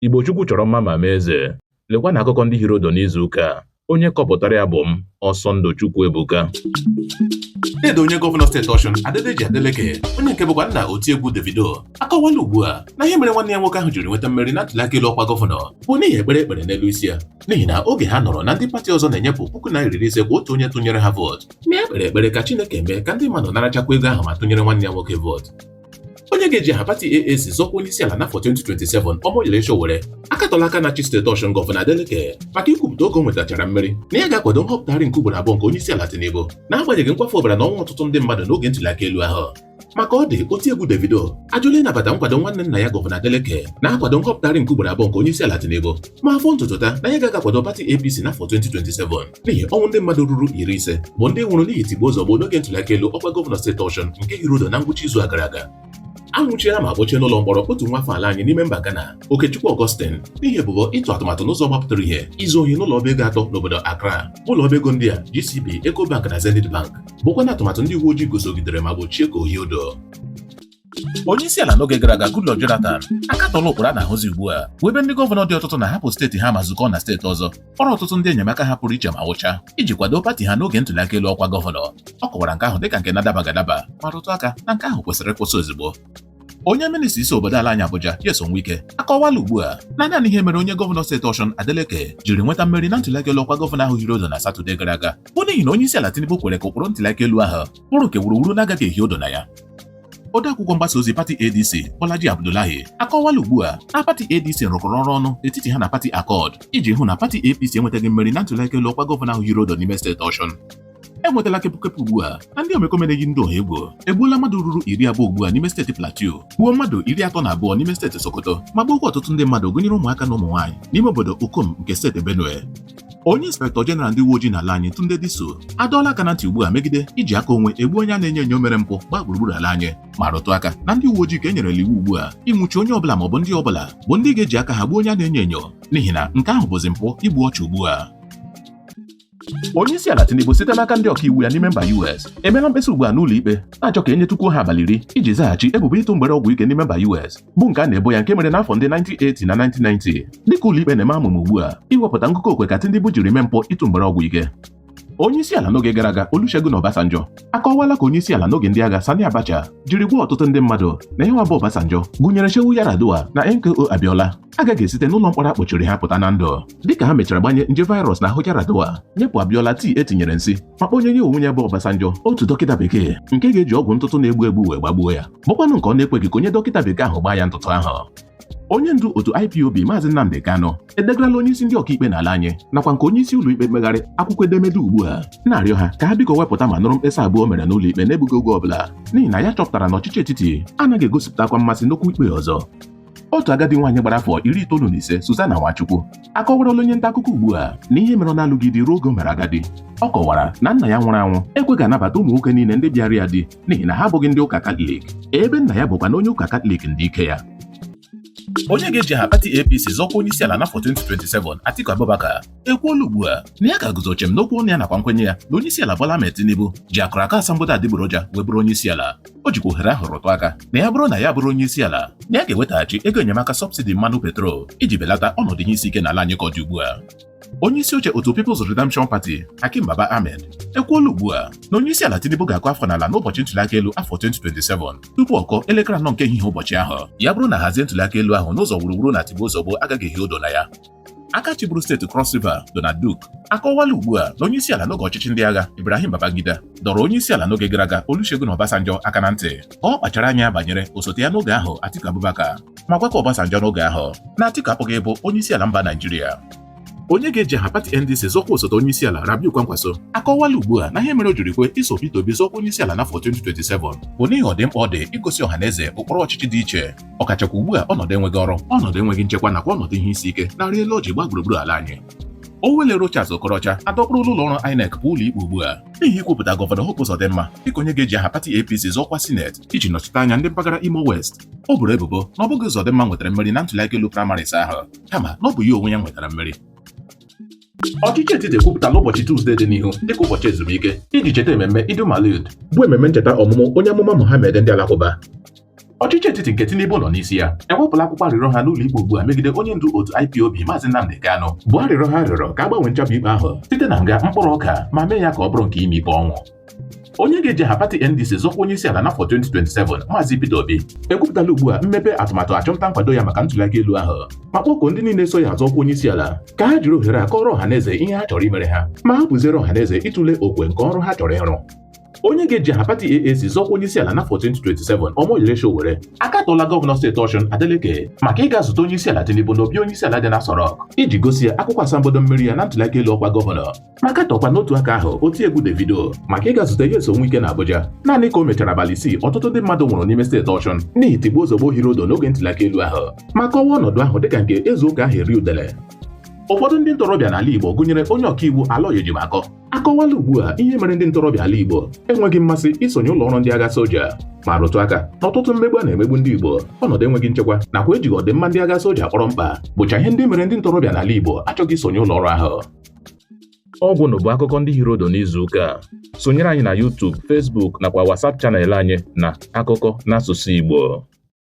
Igbo Chukwu chọrọ mma ma mee eze. Lekwa na akụkọ ndị hiri odo n'izu ụka a. Onye kọpụtara ya bụ m, Ọsọndụ Chukwu Ebuka. Dede onye gọvanọ steeti Ọshụn Adedeji Adeleke onye nke bụkwa nna otiegwu Davido akọwala ugbu a na ihe mere nwanne ya nwoke ahụ jiri nweta mmeri na ntụliaka elu ọkwa gọvanọ bụ n'ihi ekpere e kpere n'elu isi ya n'ihi na oge ha nụrụ na ndị pati ọzọ na-enyepụ puku naira iri ise kwa otu onye tụnyere ha vootu na ya kpere ekpere ka Chineke mee ka ndị mmadụ narachakwa ego ahụ ma tụnyere nwanne ya nwoke vootu onye ga-eji aha pati AAC zọọ ọkwa onye isi ala n'afọ 2027 Omoyele Sowore akatọla aka na-achị steeti Ọshụn gọvanọ Adeleke maka ikwupụta oge o nwetachara mmeri na ya ga-akwado nhọpụtagharị nke ugboro abụọ nke onye isi ala Tinubu n'agbanyeghị nkwafu ọbara na ọnwụ ọtụtụ ndị mmadụ n'oge ntuli aka elu ahụ ma ka ọ dị oti egwu Davido ajụla ịnabata nkwado nwanne nna ya gọvanọ Adeleke na-akwado nhọpụtagharị nke ugboro abụọ nke onye isi ala Tinubu ma fọọ ntutu taa na ya agaghị akwado pati APC n'afọ 2027 n'ihi ọnwụ ndị mmadụ ruru iri ise bụ ndị nwụrụ n'ihi tigbuo zọgbuo n'oge ntụliaka elu ọkwa gọvanọ steeti Ọshụn nke hiri odo na ngwụcha izu a gara aga a nwụchiela ma kpọchie n'ụlọ mkpọrọ otu nwa afọ ala anyị n'ime mba Ghana Okechukwu Augustin n'ihi ebubo ịtụ atụmatụ n'ụzọ gbapụtara ihe izu ohi n'ụlọ ọba ego atọ n'obodo Accra ụlọ ọba ego ndị a GCB Ecobank na Zenith Bank bụkwa na atụmatụ ndị uwe ojii gosogidere ma gbochie ka o hie odo onye isi ala n'oge gara aga Goodluck Jonathan akatọla ụkpụrụ a na-ahụzi ugbu a bụ ebe ndị gọvanọ dị ọtụtụ na-ahapụ steeti ha ma zukọọ na steeti ọzọ kpọrọ ọtụtụ ndị enyemaka ha pụrụ iche ma wụcha iji kwado pati ha n'oge ntuli aka elu ọkwa gọvanọ ọ kọwara nke ahụ dịka nke na-adabaghị adaba ma rụtụ aka na nke ahụ kwesịrị ịkwụsị ozugbo onye minista isi obodo ala anyị Abuja Nyesom Wike akọwala ugbu a na naanị ihe mere onye gọvanọ steeti Ọshụn Adeleke jiri nweta mmeri na ntụliaka elu ọkwa gọvanọ ahụ hiri odo na Satọde gara aga bụ n'ihi na onye isi ala Tinubu kwere ka ụkpụrụ ntụliaka elu ahụ ụrụ nke wuruwuru na-agaghị ehi odo na ya odeakwụkwọ mgbasa ozi pati ADC Bolaji Abdullahi akọwala ugbu a na pati ADC rụkọrọ ọrụ ọnụ n'etiti ha na pati Accord iji hụ na pati APC enwetaghị mmeri na ntụliaka elu ọkwa gọvanọ ahụ hiri odo n'ime steeti Ọshụn e nwetala kepụkepụ ugbu a na ndị omekome na-eyi ndị ọha egwu egbuola mmadụ ruru iri abụọ ugbu a n'ime steeti Plateau gbuo mmadụ iri atọ na abụọ n'ime steeti Sokoto ma gbuokwa ọtụtụ ndị mmadụ gụnyere ụmụaka na ụmụ nwaanyị n'ime obodo Ukum nke steeti Benue onye inspektọ jeneral ndị uwe ojii n'ala anyị Tunde Disu adọọla aka na ntị ugbu a megide iji aka onwe egbu onye a na-enyo enyo mere mpụ gbaa gburugburu ala anyị ma rụtụ aka na ndị uwe ojii ka e nyerela iwu ugbu a ịnwụchi onye ọbụla maọbụ ndị ọbụla bụ ndị ga-eji aka ha gbuo onye a na-enyo enyo n'ihi na nke ahụ bụzi mpụ igbu ọchụ ugbu a onye isi ala Tinubu site n'aka ndị ọkaiwu ya n'ime mba US emeela mkpesa ugbu a n'ụlọ ikpe na-achọ ka e nyetukwuo ha abalị iri iji zaghachi ebubo ịtụ mgbere ọgwụ ike n'ime mba US bụ nke a na-ebo ya nke mere n'afọ ndị 1980 na 1990 dịka ụlọikpe na-eme amụma ugbu a iwepụta ngụkọ okwe ka Tinubu jiri mee mpụ ịtụ mgbere ọgwụ ike onye isi ala n'oge gara aga Olusegun Obasanjo akọwala ka onye isi ala n'oge ndị agha Sani Abacha jiri gwa ọtụtụ ndị mmadụ na ya nwa bụ Obasanjo gụnyere Shehu Yar'Adua na MKO Abiola agaghị esite n'ụlọ mkpọrọ a kpọchiri ha pụta na ndụ dịka ha mechara gbanye nje virus n'ahụ Yar'Adua nyepụ Abiola tii e tinyere nsị ma kpọnye ya onwe ya bụ Obasanjo otu dọkịta bekee nke ga-eji ọgwụ ntụtụ na-egbu egbu wee gbagbuo ya bụkwanụ nke ọ na-ekweghị ka onye dọkịta bekee ahụ gbaa ya ntụtụ ahụ onye ndu otu IPOB maazị Nnamdi Kanu edegarala onye isi ndị ọkaikpe n'ala anyị nakwa nke onye isi ụlọikpe mkpegharị akwụkwọ edemede ugbu a na-arịọ ha ka ha biko wepụta ma nụrụ mkpesa abụọ o mere n'ụlọikpe n'egbughị oge ọbụla n'ihi na ya chọpụtara na ọchịchị etiti anaghị egosipụtakwa mmasị n'okwu ikpe ọzọ otu agadi nwaanyị gbara afọ iri itoolu na ise Suzana Nwachukwu akọwarala onye nta akụkọ ugbu a na ihe mere ọ na-alụghị di ruo oge o mere agadi ọ kọwara na nna ya nwụrụ anwụ ekweghị anabata ụmụ nwoke niile ndị bịara ya di n'ihi na ha abụghị ndị ụka katọlik ebe nna ya bụkwanụ onye ụka katọlik ndị ike ya onye ga-eji aha pati ADC zọọ ọkwa onye isi ala n'afọ 2027 Atiku Abubakar ekwuola ugbu a na ya ga-eguzo chịm n'okwu ọnụ ya nakwa nkwenye ya na onye isi ala Bola Ahmed Tinubu ji akwụkwọ asambodo adịgboroja wee bụrụ onye isi ala o jikwa ohere ahụ rụtụ aka na ya bụrụ na ya bụrụ onye isi ala na ya ga-ewetaghachi ego enyemaka sọbsidi mmanụ petrol iji belata ọnọdụ ihe isi ike n'ala anyị ka ọ dị ugbu a onye isi oche otu People's Redemption Party Hakeem Baba Ahmed ekwuola ugbu a na onye isi ala Tinubu ga-akụ afọ n'ala n'ụbọchị ntụliaka elu afọ 2027 tupu ọ kụọ elekere anọ nke ehihie ụbọchị ahụ ya bụrụ na a hazie ntụliaka elu ahụ n'ụzọ wuruwuru na tigbuo zọgbuo agaghị ehi odo na ya aka chịburu steeti Cross River Donald Duke akọwala ugbu a na onye isi ala n'oge ọchịchị ndị agha Ibrahim Babangida dọrọ onye isi ala n'oge gara aga Olusegun Obasanjo aka na ntị ka ọ kpachara anya banyere osote ya n'oge ahụ Atiku Abubakar ma gwakwa Obasanjo n'oge ahụ na Atiku apụghị ịbụ onye isi ala mba Naijiria onye ga-eji aha pati NDC zọọ ọkwa osote onye isi ala Rabiu Kwankwaso akọwala ugbu a na ihe mere o jiri kwe iso Peter Obi zọọ ọkwa onye isi ala n'afọ 2027 bụ n'ihi ọdịmkpa ọ dị igosi ọha na eze ụkpụrụ ọchịchị dị iche ọkachakwa ugbu a ọnọdụ enweghị ọrụ ọnọdụ enweghị nchekwa nakwa ọnọdụ ihe isi ike na-arị elu ọjị gbaa gburugburu ala anyị Owelle Rochas Okorocha adọkpụrụla ụlọ ọrụ INEC baa ụlọ ikpe ugbu a n'ihi ikwupụta gọvanọ Hope Uzodimma dịka onye ga-eji aha pati APC zọọ ọkwa sineti iji nọchite anya ndị mpaghara Imo West o boro ebubo na ọ bụghị Uzodimma nwetara mmeri na ntụliaka elu primaries ahụ kama na ọ bụ ya onwe ya nwetara mmeri Ọchịchị etiti ekwupụtala ụbọchị Tuzdee dị n'ihu dịka ụbọchị ezumike iji cheta ememme Eid-ul-Maulud bụ ememme ncheta ọmụmụ onye amụma Mohammed ndị Alakụba. Ọchịchị etiti nke Tinubu nọ n'isi ya ewepụla akwụkwọ arịrịọ ha n'ụlọ ikpe ugbu a megide onye ndu otu IPOB Maazị Nnamdi Kanu bụ arịrịọ ha rịọrọ ka a gbanwee nchapụ ikpe ahụ site na nga mkpụrụ ọka ma mee ya ka ọ bụrụ nke ịma ikpe ọnwụ. onye ga-eji aha pati NDC zọọ ọkwa onye isi ala n'afọ 2027 Maazị Peter Obi ekwupụtala ugbu a mmepe atụmatụ achọmnta nkwado ya maka ntụliaka elu ahụ ma kpọkuo ndị niile so ya azọ ọkwa onye isi ala ka ha jiri ohere a kọọrọ ọha na eze ihe ha chọrọ imere ha ma hapụziere ọha na eze ịtụle okwe nke ọrụ ha chọrọ ịrụ onye ga-eji aha pati AAC zọọ ọkwa onye isi ala n'afọ 2027 Omoyele Sowore akatọla gọvanọ steeti Osun Adeleke maka ịga zute onye isi ala Tinubu n'obi onye isi ala dị n'Aso Rock iji gosi ya akwụkwọ asambodo mmeri ya na ntụliaka elu ọkwa gọvanọ ma katọkwa n'otu aka ahụ otiegwu Davido maka ịga zute Nyesom Wike na Abuja naanị ka o mechara abalị isii ọtụtụ ndị mmadụ nwụrụ n'ime steeti Ọshụn n'ihi tigbuo zọgbuo hiri ụdụ n'oge ntụliaka elu ahụ ma kọwaa ọnọdụ ahụ dịka nke e zuo ka aha eri udele ụfọdụ ndị ntorobịa n'ala Igbo gụnyere onye ọkaiwu Aloy Ejimakọ akọwala ugbu a ihe mere ndị ntorobịa ala Igbo enweghị mmasị isonye ụlọ ọrụ ndị agha soja ma rụtụ aka na ọtụtụ mmegbu a na-emegbu ndị Igbo ọnọdụ enweghị nchekwa nakwa ejighị ọdịmma ndị agha soja kpọrọ mkpa bụcha ihe ndị mere ndị ntorobịa n'ala Igbo achọghị isonye ụlọ ọrụ ahụ ọ gwụla bụ akụkọ ndị hiri ụdụ n'izu ụka a sonyere anyị na YouTube, Facebook nakwa WhatsApp channel anyị na akụkọ n'asụsụ Igbo